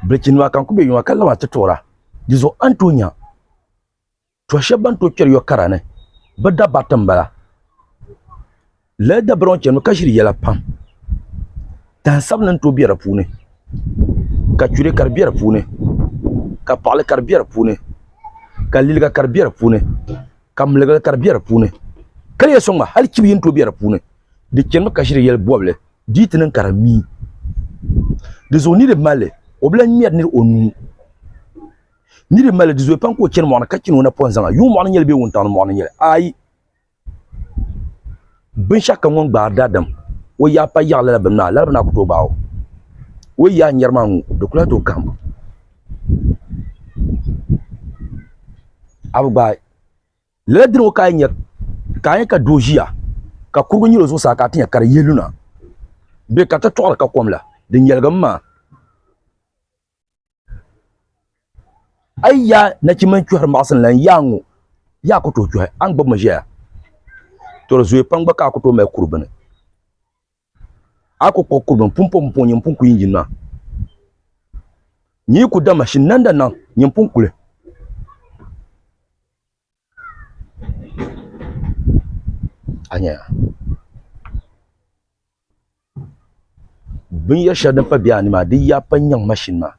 Biriki nima ka n ku bɛ yuŋa ka laba ti toora di zuɣu a ni tooi nya tɔha shɛba ban tooi kpɛri yɔ kara ni bi dabati n bala lala dabara ŋɔ chɛnimi ka ʒiri yɛla pam tani sabinli ni tooi bɛ di puuni ka churɛ ka di bɛ di puuni ka paɣali ka di bɛ di puuni ka liliga ka di bɛ di puuni. ka miligira ka di bɛ di puuni ka di yɛ soŋ ma hali chibi yini to bɛ di puuni di chɛnimi ka ʒiri yɛli bɔbili di yi ti niŋ ka di mii di zuɣu nidib malli o bila ŋmɛri niri o nuu nidib malli di zuɣu pam ka o chɛni mɔɣuni ka chɛni o napɔŋ zaŋa yuŋ mɔɣuni nyɛli bee wuntaŋni mɔɣuni nyɛli ayi Binshɛɣu kam ŋun gbaari daadam o yaa pa yaɣi lala bini maa lala bini maa ku tooi gbaai o o yaa n yɛri maa ŋɔ di ku lahi tooi kahim a bi gbaai lala dini ŋɔ ka a yi nya ka a nya ka doo ʒiya ka kurigu nyili o zuɣusaa ka a ti nya ka di yihi lu na bee ka tatɔɣili ka kom la di nyɛligi mi maa. a yi ya nachimba n kpɛhiri maɣasin la n yaa ŋɔ yaa ku tooi kpɛhi a ni gbibimi ʒɛya to di zooya pam gba ka a ku tooi mali kuri bini a ku kpuɣi kuri bini pun po pumpɔŋ nyin pun ku yinyin maa nyin yi ku da mashin nanda naŋ nyin pun kuli Binyɛri shɛli din pa biɛha ni maa di yi yaan pa n nyɛŋ mashin maa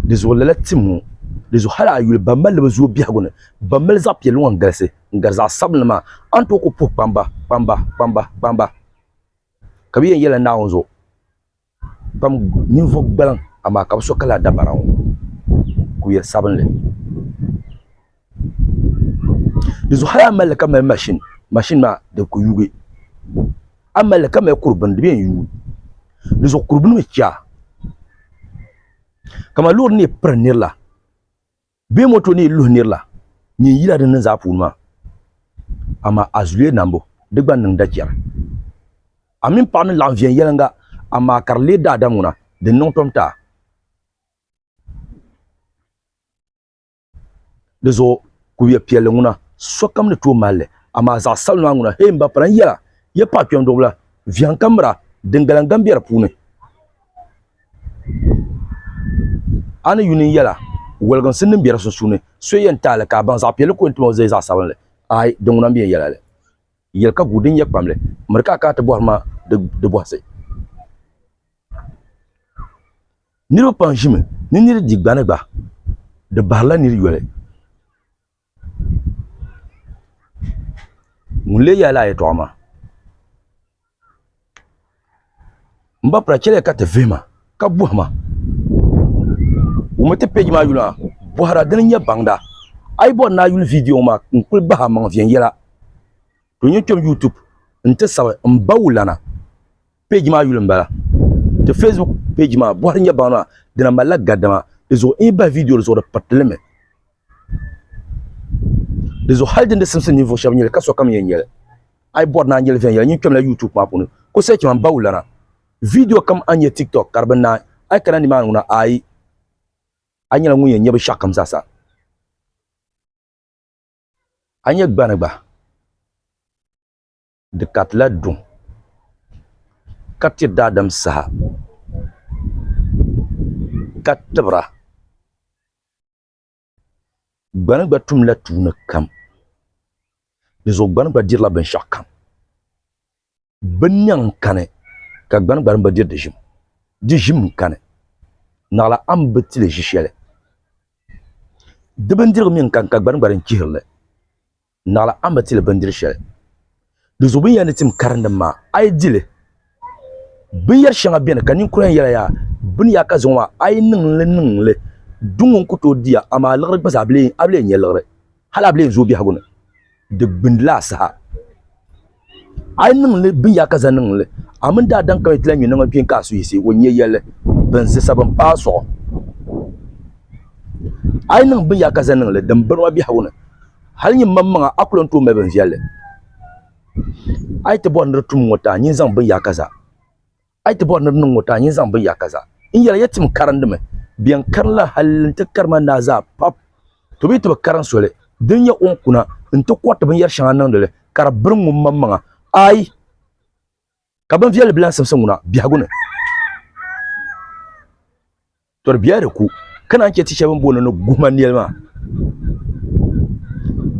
di zuɣu lala tim ŋɔ di zuɣu hali a yuli ban malli bi zooi biɛhagu ni ban mali zaɣ piɛlli ŋɔ n galisi n gari zaɣ sabinli maa a ni tooi ku puhi kpamba kpamba ka bi yɛn yɛla naawuni zuɣu pam ninvuɣ gbaliŋ amaa ka bi so ka lala dabara ŋɔ kuyil sabinli di zuɣu hali a ni mali li ka mali mashin mashin maa di bi ku yugi a ni mali li ka mali kuri bini di bɛ yɛn yuui di zuɣu kuri bini mi chɛ a kamani loori ni yi piri nirila Bɛ moto ni yi luhi nir la, nyin yila din niŋ zaa puuni maa. Amaa a zuliya nambu, di gba n-niŋ dachɛri. A mini paɣa ni laɣim viɛn yɛliŋga, amaa ka di leei daadam ŋuna, di n-niŋ tom ti a. Di zuɣu kubiɛ piɛlli ŋuna, sokam ni tooi mali li, amaa zaɣ sabinli maa ŋuna, hee m ba pala n-yɛl a, ya paɣ kpɛmduɣibila, viɛŋ ka miri a, diŋgala n-gam be di puuni. a ni yuni yɛla woliginsi niŋ bɛ di sunsuuni so yɛn taali ka a baŋ zaɣ piɛlli ka o yɛn tim o zaya zaɣ sabinli aai di ŋuna m-bɛn yɛla li yɛli ka guui din nyɛ kpamli miri ka a kana ti bɔhiri ma di bɔhisi niriba pam ʒimi ni niri di gbani gba di bahirila niri yoli Ŋun lee yaai laa yɛltɔɣa maa n ba pira chɛliya ka ti vihima ka bɔhima wummi ti pɛji maa yuli maa bɔhira dini n nyɛ baŋda a yi bɔri ni a yuli viidiyɔ ŋɔ maa n kuli bahi amaŋ viɛnyɛla to nyɛ kpɛm yuutuub n ti sabi m ba wulana. page maa yuli n bala ti facebook page maa bɔhiri nyɛ baŋ maa di na malila gadama di zuɣu in yi bahi video di zuɣu di piriti limi di zuɣu hali din di simsim ninvuɣu shɛba nyɛli ka sokam yɛn nyɛli a yi bɔri ni a nyɛli viɛnyɛla nyin kpɛmla youtube maa puuni ko sɛchi man bawu lana video kam a nyɛ tiktok ka di bi naai a yi kana nimaani ŋuna ayi a nyɛla ŋun yɛn nyɛ binshɛɣu kam zaasa a nyɛ gbani gba Di katila duŋ ka ti daadam saha ka tibira. Gbani gba tumla tuuni kam. Dinzuɣu gbani gba dirila binshɛɣu kam. Binnɛŋ n-kani ka gbani gba bi diri di ʒim. Di ʒim n-kani. Naɣila a ni bi ti li ʒi shɛli. Di bindirigu mi n-kani ka gbani gba din chihiri li. Naɣila a ni bi ti li bindiri shɛli, di zuɣu binyɛra ni tim karindim maa, a yi di li. Binyɛr shɛŋa beni ka ninkura yɛn yɛla yaa, bini yaa ka zaŋɔ maa, a yi niŋ li niŋ li, duŋ ŋɔ n-ku tooi di ya, amaa liɣiri gba zaa a bi lee nya liɣiri, hal a bi lee zooi biɛhigu ni di gbindi la asaha. a yi niŋli binyɛra ka za niŋli a mini daadam kam yi ti lahi nyɛ niŋ kpiin ka a suhu yiɣisi o nyɛ yɛlli bin zisa bin paai suɣu a yi niŋ binyɛra ka za niŋli din biri ma biɛhigu ni hali nyin mam maŋa a ku lahi ni tooi mali bin viɛlli a yi ti bɔri ni di tum ŋɔ ti a nyin zaŋ binyɛra ka za A yi ti bɔri ni di niŋ ŋɔ, ti a nyin zaŋ bɛ yaaka zaa. N yɛli ya tim karindimi, bɛn karinla hal nti kari ma naa zaa pap, to bɛ yi ti bi karin soli din nyɛ o ni kuna nti kɔriti binyɛr shɛŋa niŋdi li ka di biri ŋummaŋmaŋa, aai! Ka binviɛlli bilansimsi ŋuna biɛhigu ni. Tɔri biya di ku ka naan chɛ ti shɛba bɛn booni ni guhima nɛli maa.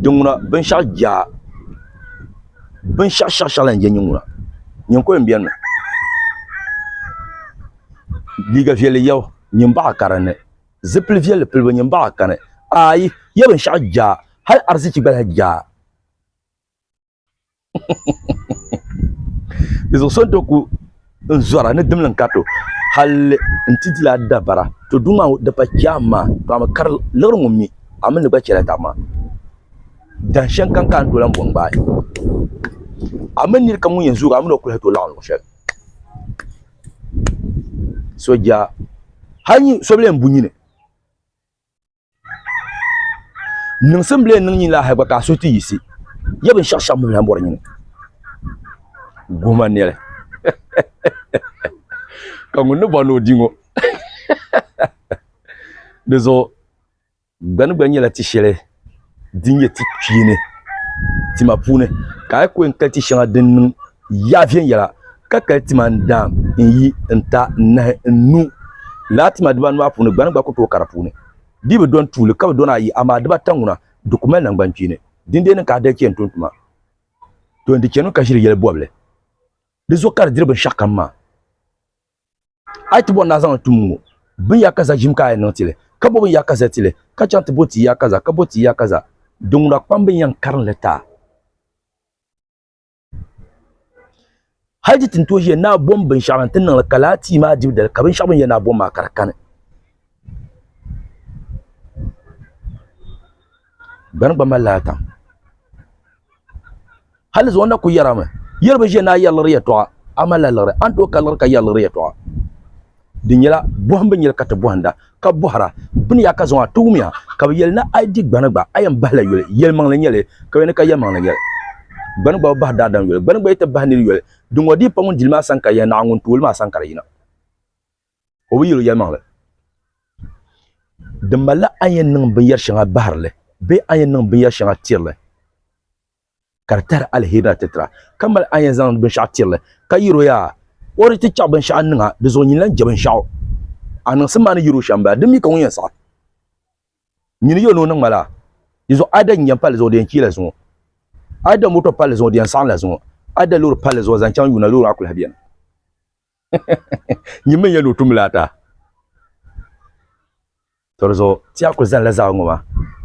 Dinŋuna binshɛɣu jaa binshɛɣu shɛɣu shɛɣu la n-je niŋŋuna. Nyiŋkɔli m-beni mi liiga viɛlli yɛbu nyin baɣa ka dinni, zipil viɛlli pilibu nyin baɣa kani. Aayi! Yɛ binshɛɣu jaa hali ariziki gba lahi jaa. di zuɣu so n to ku n zɔra ni dimli n ka to hali n ti dila dabara to duu maa di pa chɛɣ maa to a mi kari liɣiri ŋun mi a mi ni gba chɛla daɣu maa dan shɛŋ kam ka n tooi lahi bɔŋ gbaai a mi niri kam ŋun yɛn zoogi a mi ni o kuli hali tooi laɣim luɣ shɛli sooja hali nyɛ so bɛ yɛn bu nyini niŋsim bile niŋ nyini lahi gba ka a suhu ti yisi ya binshɛɣu shɛŋa mini bɔri nyini guhima nɛli ka ŋun ni bɔri ni o di ŋɔ di zuɣu gbani gba nyɛla ti shɛli din nyɛ ti kpeeni tima puuni ka a yi ko n-kali ti shɛŋa din niŋ ya viɛnyɛla ka kali tima n-daam n-yi n-ta n-nahi n-nu. Lala tima dibaanu maa puuni gbani gba ku tooi ka di puuni. Di bi dɔni tuuli ka bi dɔni ayi, amaa dibata ŋuna di ku mali naŋgbankpeeni. Dindee ni ka a dali chɛ n-tum tuma. To n-di chɛnimi ka ʒiri yɛli bɔbili. Di zuɣu ka di diri binshɛɣukam maa. A yi ti bɔri ni a zaŋ li tum ŋɔ, binyakaza ʒim ka a yɛn niŋ ti li, ka bo binyakaza ti li, ka chaŋ ti bo ti yakaza, ka bo ti yakaza. Di ŋuna kpam bi ni yɛn karim li ta. hali ti tin tooi ʒiya naa bom binshaɣu din ti niŋli ka laa tia maa dibu dali ka binshaɣu bin yɛ naa bom maa ka di kani gbani gba malila atam hali zuɣu na ku yɛrami yɛri bi ʒiya ni a yɛri liɣiri yɛltɔɣa a malila liɣiri a ni tooi ka liɣiri ka yɛri liɣiri yɛltɔɣa di nyɛla bɔhim bi nyɛli ka ti bɔhinda ka bɔhira bini yaa ka zaŋ a ti wumiya ka bi yɛli ni a yi di gbani gba a yɛn bahila yoli yɛlimaŋli nyɛli ka yɛli ni ka yɛlimaŋli nyɛli gbani gba bi bahi daadam yoli gbani gba yi ti bahi niri yoli di ŋɔ dii pa ŋun dili maa sani ka yɛli naɣ ŋun tooli maa sani ka di yina o bi yɛli o yɛlimaŋli di malila a ni yɛn niŋ binyɛr shɛŋa bahirili bee a ni yɛn niŋ binyɛr shɛŋa tirili ka di tahiri aliheri ni atitira, ka mali a ni yɛn zaŋ binshɛɣu tiri li, ka yɛr o yaa, O di ti chɛɣu binshɛɣu n-niŋ a, di zuɣu nyini lan je binshɛɣu a niŋsim maa ni yɛr o shɛm bala. Di mi ka ŋun yɛn saɣi nyini yɛl ni o niŋ ma la, di zuɣu a yi da nyinjam palli zuɣu di yɛn chiya la zuŋɔ, a yi da moto palli zuɣu di yɛn saɣim la zuŋɔ, a yi da loori palli zuɣu zaŋ chaŋ yuuna loori maa kul lahi beni. Nyin mi n-yɛn ni o tum li ata. Tɔ di zuɣu ti a kul zalila zaɣ ŋɔ maa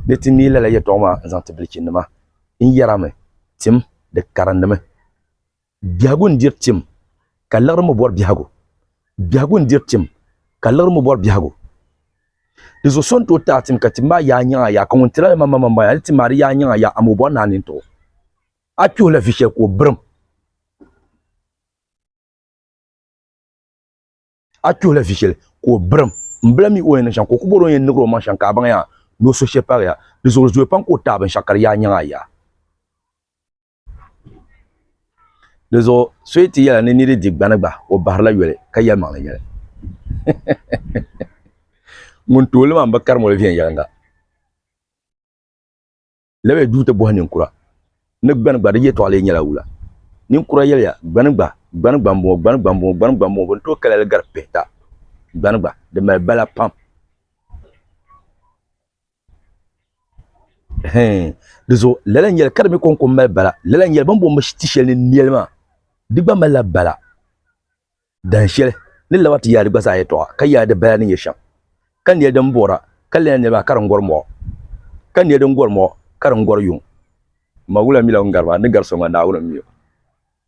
ni ti neei lala yɛtɔɣ maa n-zaŋ ti bilichinnima. N yɛrami, Tim, di karindimi. Biɛhigu n-diri tim, ka liɣiri mi bɔri biɛhigu. Biɛhigu n-diri tim, ka liɣiri mi bɔri biɛhigu. Di zuɣu so n-tooi ti a tim ka tim maa yaai nyaŋ a yaai, ka ŋun tiri a li maa mi m-bɔŋɔ a ni tim maa di yaai nyaŋ a yaai, amaa o bɔri ni a nini ti o. A kpihila vi shɛli ka o birim. a tuhi la vichel ko brim mbla mi o yɛn niŋ shɛŋa ka o ku bɔri o yɛn nigira o maŋ shɛŋa ka a baŋ yaa ni o so shɛli paagi ya di zuɣu di zooi pam ka o taai binshɛɣu ka di yaa nyaŋ a yaa di zuɣu so yi ti yɛla ni niri di gbani gba o bahirila yoli ka yɛli maŋli yɛli ŋun tooli maa n bi karimoli viɛnyɛlinga Lawyer duu ti bɔhi ninkura ni gbani gba di yɛtɔɣa lee nyɛla wula? Ninkura yɛliya, Gbani gba, gbani gba m-bɔŋɔ, gbani gba m-bɔŋɔ, gbani gba m-bɔŋɔ, bɛ ni tooi kaya li gari pihita. Gbani gba, di mali bala pam. Hɛɛn, di zuɣu lala n-yɛli ka di mi kɔŋko m-mali bala, lala n-yɛli bɛ ni bɔŋ ti shɛli ni nɛli maa, di gba malila bala. Dahin shɛli, ni laba ti yaadi gba zaa yɛtɔɣa, ka yaadi baya ni nyɛ shɛm. Ka nɛli din bɔra, ka lala nɛli maa ka di ŋ-gɔri mɔɣu, ka nɛli din gɔri mɔɣu, ka di ŋ-gɔri yuŋ. Mawula mila o ni gari maa, ni gari so ŋɔ, Naawuni m-mi o.